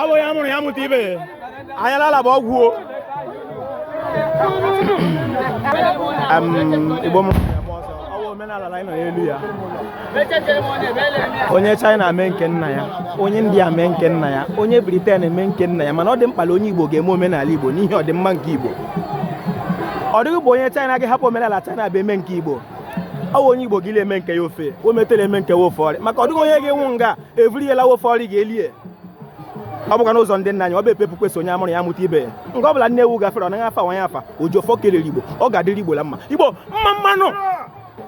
abụ ya mụrụ ya mụta ibe anyalala bụ ọgwụ o igbo m omenala anyị nọ n'elu ya onye China mee nke nna ya onye India mee nke nna ya onye Britain mee nke nna ya mana ọ dị mkpa na onye Igbo ga-eme omenala Igbo n'ihi ọdịmma nke Igbo ọ dịghị bụ onye China ga-ahapụ omenala China ba eme nke Igbo ọ bụ onye Igbo ga na-eme nke ya ofe o metela eme nke ya ofe ọrị maka ọ dịghị onye ga-anwụ nga evuru ya laa ofe ọrị ga-elie ọ bụkwa n'ụzọ ndị nna anyị ọ bụ epepu kwesị onye amụrụ ya mụta ibe ya nga ọ bụla nne ewu gafere ọ naghị afa nwa ya afa ojiọfọ kelere igbo ọ ga-adịrị igbo la mma igbo mma mma nụ